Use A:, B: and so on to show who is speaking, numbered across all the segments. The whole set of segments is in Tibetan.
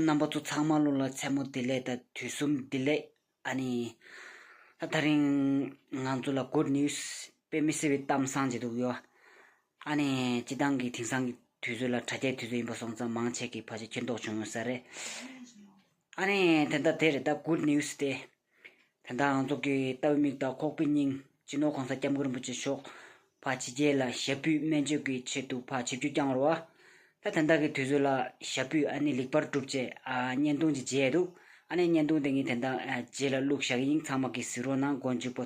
A: རྣམ་པ་ཚོ་ཚང་མ་བློ་ལ་མཚན་མོ་བདེ་ལེགས་དང་དུས་གསུམ་བདེ་ལེགས། ཨ་ནི། ད་རིང། ང་ཚོ་ལ good news། དཔེ་མི་སྲིད་པའི་གཏམ་བཟང་ཅིག་འདུག་ཡོ། ཨ་ནི། སྤྱི་བཏང་གི་དེང་སང་གི་དུས་ཚོད་ལ་དྲ་རྒྱའི་དུས་ཚོད་ཡིན་པ་སོང་ཙང་མང་ཆེ་གི་ཕ་ཆ་ཁྱེར་མདོག་བྱུང་ཡོང་ས་རེད། ཨ་ནི་དེ་ལྟ་དེ་རེད་ད good news སྟེ། དེ་ལྟའང་རྫོགས་ཀྱི་ལྟ་བུའི་མིག་དང་ཁོག་པའི་སྙིང། སྤྱི་ནོར་གོང་ས་སྐྱབས་མགོན་རིན་པོ་ཆེ་མཆོག། ཕ་ཕྱི་རྒྱལ་ལ་ཞབས་པུས་སྨན་བཅོས་ཀྱི་ཆེད་དུ་ཕ་ཆིབས་རྒྱུད་བསྐྱངས་རོ། ད་དེ་འདའ་གི་དུས་ཚོད་ལ་ཞབས་པུས་ཨ་ནི་ལེགས་པར་གྲུབ་ཅེས་བརྙན་ཐུང་ཅིག་མཇལ་འདུག་ཨ་ནི་བརྙན་ཐུང་དེ་ངས་དེ་འདའ་རྗེས་ལ་བླུགས་བཞག་ཡིན་ཚང་མ་གི་གཟིགས་རོགས་གནང་མགོ་མཇུག་པོ།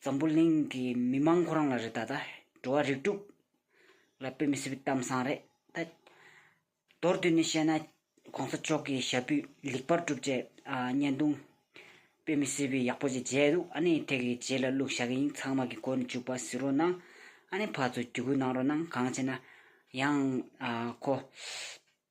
A: འཛམ་བུ་གླིང་གི་མི་མང་ཁོ་རང་ལ་རེད་ད་ད་འགྲོ་བ་རིགས་དྲུག་ལ་དཔེ་མི་སྲིད་པའི་གཏམ་བཟང་རེད་ད། མདོར་བསྡུས་ནས་བཤད་ན་གོང་ས་མཆོག་གི་ཞབས་པུས་ལེགས་པར་གྲུབ་བྱས་བརྙན་ཐུང། དཔེ་མི་སྲིད་པའི་ཡག་པོ་ཅིག་མཇལ་འདུག་ཨ་ནེའི་ཐད་ཀྱི་རྗེས་ལ་བླུག་བཞག་ཡིན་ཚང་མ་གི་གོ་ནས་བཅུག་པ་བཟི་རོ་གནང་ཨ་ནེ་ཕ་ཚོ་རྒྱུད་སྐུལ་གནང་རོ་གནང་གང་བྱས་ན་ཡང་ཁོ།